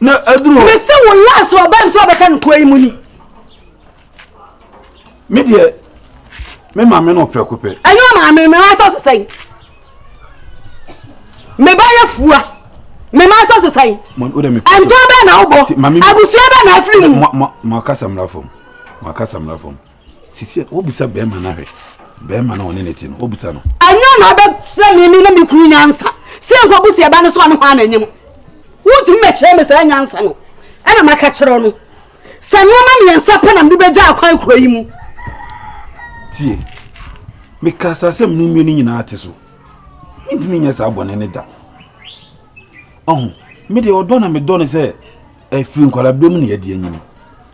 na aduru hɔ. mese wo last wɔ ba nso ɔbɛka no kuro yi mu ni. me deɛ me maame no prɛko pɛ. ɛnyɛ ɔmaame me ma atɔ so sɛn me ba yɛ fua me ma atɔ so sɛn ɛntɔ bɛɛ na wobɔ abusua bɛɛ na afiri mu. mo akasa mmara fam mo akasa mmara fam. sisi a wobisa bɛrima no ahwɛ bɛrima no ɔne ne te no wobisa no ɛnyɛ na wobɛkyerɛ me me ne me kunu nyansa sɛ nkɔbu sɛ ɛba no so a ne hɔ a na anyam wontumi mɛkyerɛ me saa nyansa no ɛna maka kyerɛ no sɛ nneɛma mmiɛnsa pɛ na mede bɛgya akwan kuro yi mu tie meka saa sɛm no mmie no nyinaa te so mentumi nyɛ saa bɔne ne da ɔho medeɛ ɔdɔ na medɔ no sɛ ɛfiri nkwalabere mu ne ɛde anyini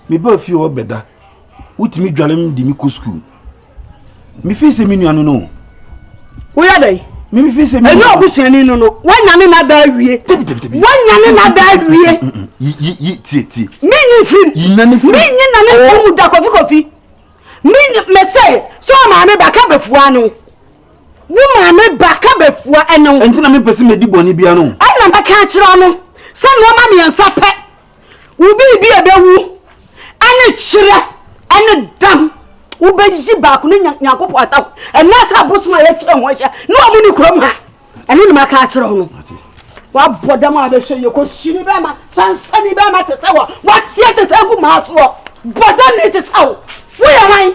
meba fie ɔbɛda wotumi dware me de me kɔ sukuu mefi sɛ me nua no no woyɛ dɛn mefi sɛ me ɛnyɛ ɔbusuani no no woanyane no ada awie woanyane no ada awie yi tie tie menyi mfirim menyi na ne mfirim mu da kofi kofi mesɛ sɛ ɔmaame ba ka bɛfua no wo maame ba ka bɛfua ɛne wo ɛnti na mepɛ sɛ mɛdi bɔne bia no ɛna mɛka akyerɛ no sɛ nnoɔma mmiɛnsa pɛ Wo biribi a ɛbɛwu ne kyerɛ ne dam. Wobɛyi baako ne Nyankopɔn atam. Ɛnna sɛ abosom a yɛkyerɛ ho ahyɛ ne wɔn ne kurom ha. Ɛno na maka akyerɛ wo no. Wabɔ dam a bɛhyɛ yɛ kɔhyini bɛma sansani bɛma te sɛ wɔ wateɛ te sɛ agu maa soɔ. Bɔ dam ne te sɛ wo. Woyɛ hwan?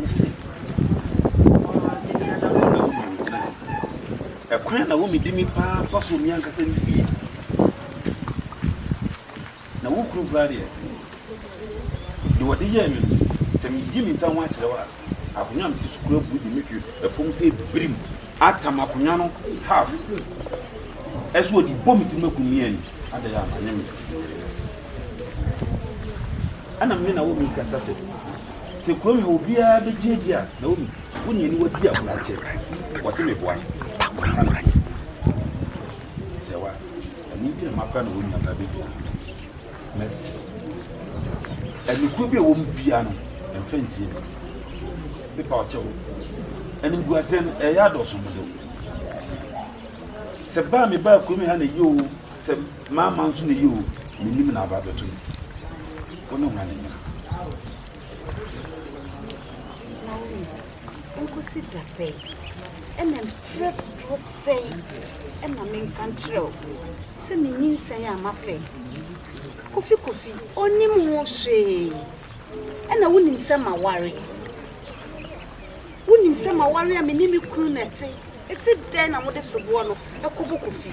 Mise, Ɔbaa me nea na wo na wo nim me nane. Ɛkwan a na wo medi me paa fa so me ankasa me fie. Na wo kunu koraa deɛ, deɛ ɔde yɛɛ me no, sɛ meyi me nsa ho akyerɛ wo a, akonnwa a mete so koraa bu de me hwe ɛfam sɛ birim atam akonnwa no half. Ɛso ɔde bɔ me tirim akum me ani. Adɛn a manyɛ me yere. Ɛna me ne Naomi rekasa sɛ, Sɛ kurom ha obiara begye adi a, Naomi, wo ne aniwa di agoru akyɛ. Wɔse meboa no, menka nokorɛ. Sɛ wa, ɛno nti na mafrɛ Naomi aba abɛdua me no. Mɛse, Anikoa bi a ɛwɔ mu biara no, ɛmfa nsie no. Mepa wo kyɛw, animguaseɛ no, ɛreyɛ adɔɔso mmɔdɛw. Sɛ ba a mebaa kurom ha na ɛyɛ oo, sɛ. M'ama nso na eye o, mennim na aba abɛto me. Wo ne hwan anya? Naomi, nkosi da bɛn? Ɛna mprɛ dodoɔ sɛn na menka nkyerɛ wo sɛ menyinsɛn a mafɛ? Kofi Kofi, ɔnim ho hwee. Ɛna wonim sɛ maware. Wonim sɛ maware a me ne me kunu na ɛte. Ɛte dɛn na mode soboɔ no ɛkɔbɔ Kofi?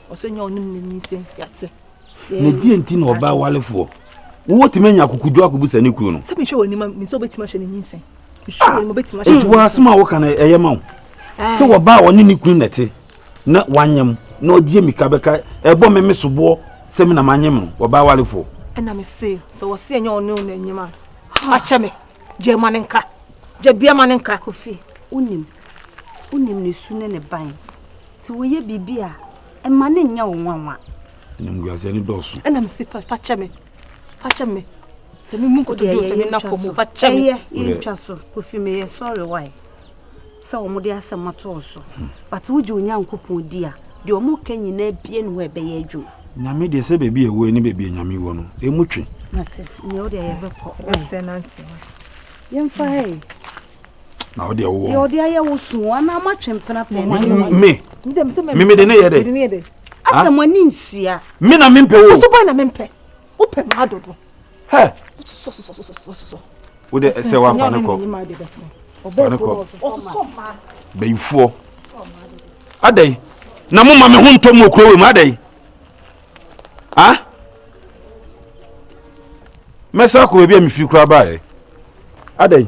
Ɔsɛ nyɛ ɔnim ne ni sɛ yɛate. Na deɛ nti na ɔbaa walefoɔ wotumi anya akokoduro akɔbusa ne kunu no. sɛ mehwɛ wɔ anim a mesɛ wobɛtumi ahyɛ ne nyinsɛn nti wɔ asɛm a woka no ɛyɛ ma wo sɛ wɔba a ɔne ne kunu na ɛte na wanyem na ɔdeɛ mika bɛka ɛbɔ me me soboɔ sɛ me na manyem no wɔba walefoɔ ɛna me se sɛ wɔse ɛnyɛ ɔne wo na anyem a akyɛ me gya ma ne nka gya bia ma ne nka kofi wonim wonim ne su ne ne ban Te woyɛ biribi a, mma no nyɛ wo nwanwa. Animguaseɛ no dɔɔso. Ɛna mese fa fa kyɛ me, fa kyɛ me. Sɛ me mu nkotodwe o, sɛ me nafo mu, fa kyɛ me. Ɛyɛ yɛntwa so, kofi me yɛ sorry why. Sɛ wɔn de asɛm ato wo so, hmm. but wogye Onyankopɔn di a, deɛ wɔn ka nyinaa bie ne hɔ ɛbɛyɛ adwuma. Nyame deɛ sɛ baabi a ɛwɔ ne baabi a Nyame wɔ no, ɛmu twe. Nate, nyɛ wo deɛ yɛbɛkɔ. Ɛbɛsɛ nante. Yɛmfa hɛ. na ɔde ɛwɔ deɛ ɔde ayɛ wo so anaa mo atwe mpena pɛ me me mede ne yɛ dɛ asɛ mo ani nhyia me na mempɛ wo so bɛn na mempɛ wopɛ ma adodo hɛ wode ɛsɛ woafa ne kɔ fa ne kɔ bɛyifoɔ adɛn na moma me ho ntɔ mu ɔkuro wei mu adɛn a mɛsan akɔ baabi a mefiri koraa baeɛ adɛn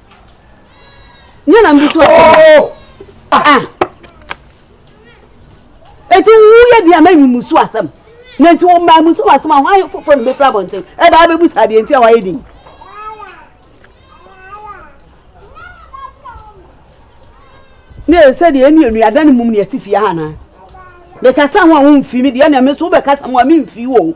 nyɛ na mbusu asɛm a ɛti wo yɛ deɛ ma mmusu asɛm na nti wɔn maa musu asɛm a wɔn foforɔ na bɛfura abɔnten ɛbɛ abɛbu saa deɛ nti a wɔayɛ din. ne yɛ sɛ deɛ ɛmi enuadan mu ne ɛti fie ha na mekasa ho a wɔn mfi mi deɛ na ɛmi so wobɛkasa ho a mi mfi wɔn.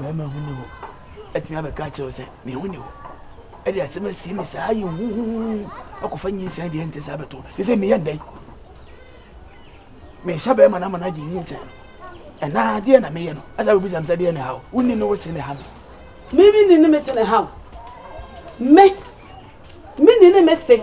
Barima ho nni hɔ atumi abɛka akyerɛ wo sɛ me ho nni hɔ ɛde asɛm asie me saa yɛ huhuhu akɔfa nyinsɛn deɛ ɛnte saa bɛto te sɛ meyɛ ndɛn mehyɛ bɛrima no ama no agye nyinsɛn no ɛnaa deɛ na meyɛ no ɛsɛ wobisam sɛ deɛ ne haw wonni ne wo se ne ha me mimi ni ne me se ne haw me me ni ne me se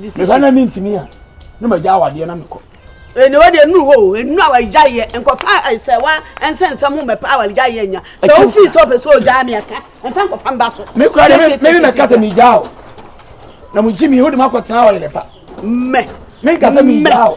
mehwɛ na mentumi a na magya awadeɛ na mekɔ ɛne wɔ deɛ nuru hɔ o ɛnu a wɔagya yɛ nkɔfa sɛ wa ɛnsɛ nsɛm ho mɛpa a wɔagya yɛ nya sɛ wofiri sɛ ɔpɛ sɛ ɔgyaa me aka ɛmfa nkɔfa mba so me kora de meme mɛka sɛ megyaa o na mogye me wode makɔtena ɔyere pa mɛ menkasa megyaa o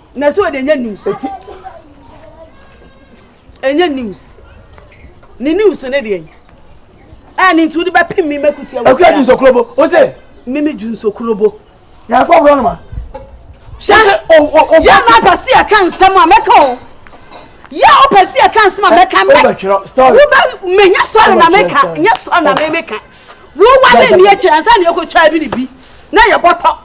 na so de nye news enye news ne news ne deɛ a ne nti wode bɛpem me mɛkutia wo akura junsokorobo wo sɛ meme junsokorobo na ɛkɔ borɔ no ma hyɛ yɛ na apɛ se ɛka nsɛm a mɛka o yɛ wopɛ se ɛka nsɛm a mɛka mɛ wobɛ menya sɔre na meka nyɛ sɔre na memeka wowale nneɛ kyerɛ ansa ne ɛkɔtwaa bi ne bi na yɛbɔtɔ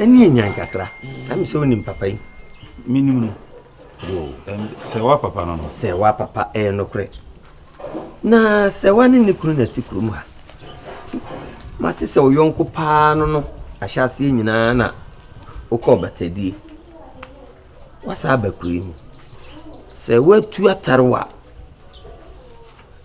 ɛne anyan kakra na me sɛ wonim papa yi menim no sɛ wa papa no no sɛ wa papa ɛyɛ nokorɛ na sɛ wa ne ne kunu na ti kurom ha mate sɛ wo yɔnko paa no no ahyɛ aseɛ nyinaa na wokɔ ɔbatadie wasa aba kuro yi mu sɛ woatu atare wa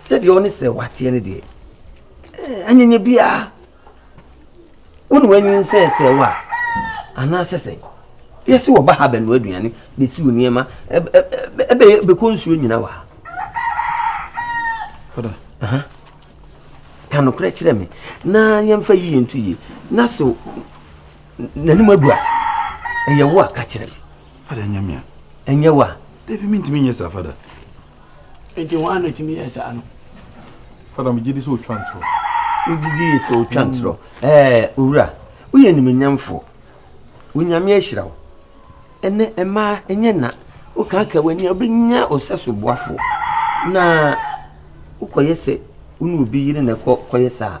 Sɛdeɛ ɔne sɛ wateɛ no deɛ, anyanya biara wone wanyin sɛ sɛ wo a anaasɛ sɛ yɛse wɔba ha bɛnoa aduane bɛsiw nneɛma bɛkɔ nsuo nyina wɔ ha ka nokorɛ kyerɛ me na yɛmfa yie nto yie na so n'anim agu ase ɛyɛ wo a ka kyerɛ me ɛnyɛ wo a dabi mentumi nyɛ saa fada Enti hwan na etumi yɛ saa no? Fada, megye di sɛ otwa ntorɔ. Wogye di sɛ otwa ntorɔ. Ɛɛ, owura, woyɛ animuonyamfoɔ. Onyame ahyira wo. Ɛnɛ, mmaa, ɛnyɛ nna. Wokaaka w'ani a, wobɛnya wo sɛso boafoɔ. Na wokɔyɛ sɛ wo ne obi yere na ɛkɔ kɔyɛ saa a,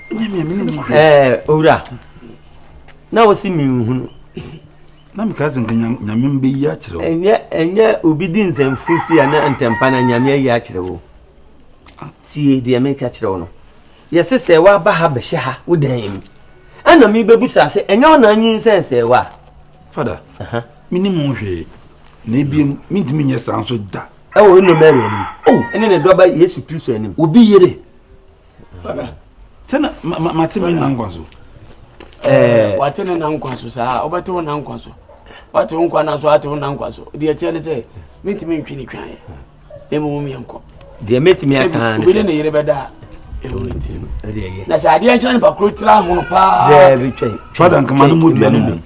nyamea mi ne mu kura. ɛɛ owura na wosi mi nhunu. na mi ka sɛ nka nyame mbɛ yi akyerɛ wo. ɛnyɛ ɛnyɛ obi di nsɛmfo si a na ntɛmpa na nyame ayi akyerɛ wo tie deɛ meka kyerɛ wo no yɛse sɛ woaba ha bɛhyɛ ha wo dan mu ɛna mebɛbusa sɛ ɛnyɛ wo na anyi nsɛn sɛ wo a fada menim ho hwee na ebiem mentumi nyɛ saa nso da ɛwɔ nnɔmɛre anim oh. ɛne ne dɔba yesu kristo anim obi yere fada sɛ na ma ma mate me nna nkwa so ɛɛ wate ne nna nkwa so saa wobɛte wo nna nkwa so wate wo nkwa na so wate wo nna nkwa so deɛ ɛteɛ ne sɛ mentumi ntwe ne twaeɛ na mmom yɛnkɔ deɛ mɛtumi aka ne sɛ ne yere bɛda a ɛwɔ ne tiri mu na sɛ adeɛ nkyerɛ ne bakoro tira hono paa fada nkama no mu dua no mu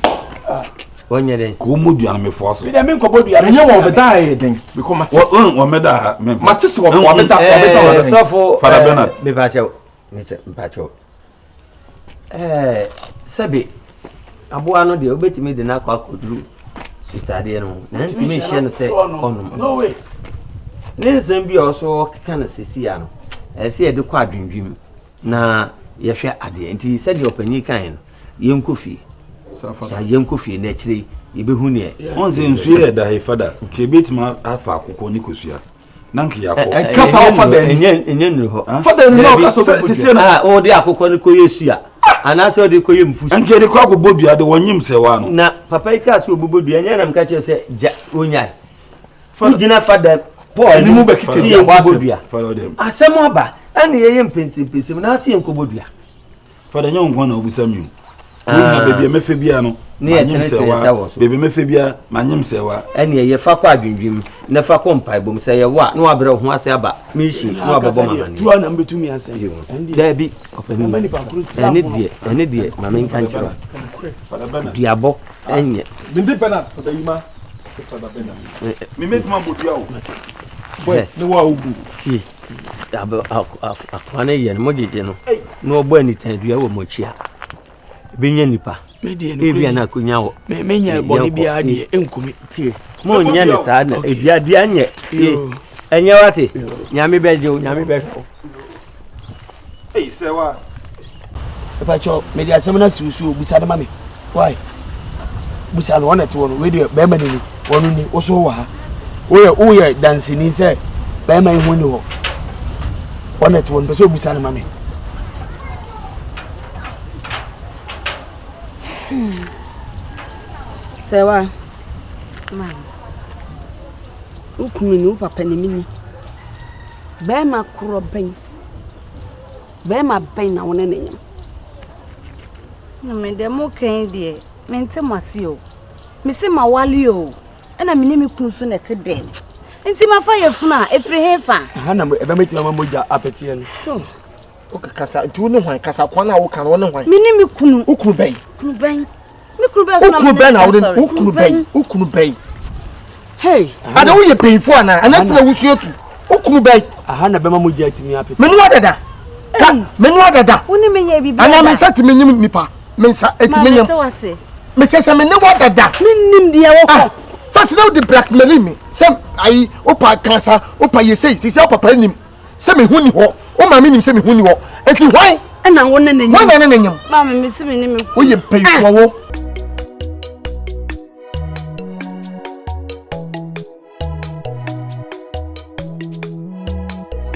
wɔnyɛ dɛn ka wɔmmɔ dua no mefoa so medɛ menkɔbɔ dua ɛnyɛ wɔ ɔbɛda a ɛyɛ dɛn bikɔ mate wɔmɛda ha memfa mate sɛ wɔbɛda wɔbɛda wɔbɛda sɔfo fada bernard mepakyɛw mepakyɛw ɛɛ sɛbe aboa no deɛ wobɛtumi de no akɔ akɔduru sutadeɛ no ho na ntumi nhyɛ no sɛ ɔnom ne nsɛm bi a ɔso ɔkeka no sesia no ɛsɛ yɛde kɔ adwendwem Na yɛhwɛ adeɛ. Nti sɛdeɛ ɔpanin kaeɛ no, yɛnkɔ fie. Safa. Yɛnkɔ fie na akyire yi yɛbɛhu neɛ. Wɔn sɛ nsuo yɛ da he fada. Nka yɛbɛtumi afa akokɔ ne kosua. Na nka yɛakɔ. Ɛka sa wɔ fada ani. Ɛnyɛ nnuru hɔ. Fada ani na ɔka sa wɔ kosua no. Ah, ɔde akokɔ no kɔyɛ sua. Anaasɛ ɔde kɔyɛ mpusu. Nka yɛde kɔ akɔbɔ dua de wɔnyem sɛ waa no. Na papa yi kaa sɛ ɔbɛbɔ dua. Ɛnyɛ na meka kyerɛ sɛ gya ɔnyae. wogyina fa dɛm paul anim mu bɛkeka dua bɔ asɛm asɛm aba ɛne yɛyɛ mpɛnsɛmpɛnsɛm na ase yɛnkɔbɔ dua fada nyɛ wo nkwa na wobusa mi o ah. wonya baabi a mɛfɛ bia no manyem sɛ wa baabi mɛfɛ bia manyem sɛ wa ɛne ɛyɛ fa kɔ adwendwem na fa kɔ mpaebom sɛ yɛwɔ a na wabrɛ wo ho ase aba mehyie na wabɛbɔ ma mane daabi ɛne deɛ ɛne deɛ ma menka nkyerɛ duabɔ ɛnyɛ. Mede Bernard Pabeyima Pepaba Bernard. Me me duma modua o. Boy ne wa ogu. Tie. Abo akwa ne yɛ no mo gyegye no. Na ɔbɔ anitan dua wɔ mo akyi a. Ebi nyɛ nipa. Ebi ana akonya wɔ. Me me nyɛ bɔ ne bia deɛ enkumi. Tie. Mo nyɛ ne saa na ebi adua nyɛ. Tie. Ɛnyɛ wate. Nyame bɛ gye o, nyame bɛ hwɛ o. Eyi sɛ wa. Mpatsɔ mede asɛm no asi wo so obusa no ma me wai busa no ɔna te wɔ no wei deɛ bɛrima ni ni wɔn ni woso wɔ ha woyɛ woyɛ dansini sɛ bɛrima yi ho ni hɔ ɔna te wɔ no pɛ sɛ obusa no ma me. sɛ wa wo kunu ni wo papa ni mi ni. Bɛɛma korɔ bɛn, bɛɛma bɛn na wo ne no nyem? Mame deɛ mo ka yi deɛ, mente mo ase o. Me se ma wale o, ɛna me ne me kun so na ɛte dɛn? Nti ma fa yɛ funu a, efiri he fa? Ɛha na ɛbɛ me tuma ma mogya apeteɛ no. Hmm. Woka kasa, nti wo ne hwan? Kasa kwan a woka no, wo ne hwan? Me ne me kunu. Wo kunu bɛn? Kunu bɛn? Me kunu bɛn na wode na wode wo kunu bɛn wo kunu bɛn. Hey. Ada wo yɛ panyinfo ana ana funa wusuo tu wo kunu bɛn. Aha na bɛma mo gya tumi apete. Menu adada. Ka menu adada. Wo ne me yɛ bibi ada. Ana me nsa tumi nyim nipa me nsa etumi nyim. Me kyɛ sɛ me ne wo adada. Me nim deɛ wɔ hɔ. Fɛsi na wode blackmailing me sɛ ayi wopa kansa wopa yɛsei sisi wo papa nim. sɛ me ho ni hɔ wo maame nim sɛ me ho ni hɔ eti hwan ɛna wo ne ne nyim wɔn ne ne nyim maame me si me ne me ho woyɛ mpanyinfoɔ wo.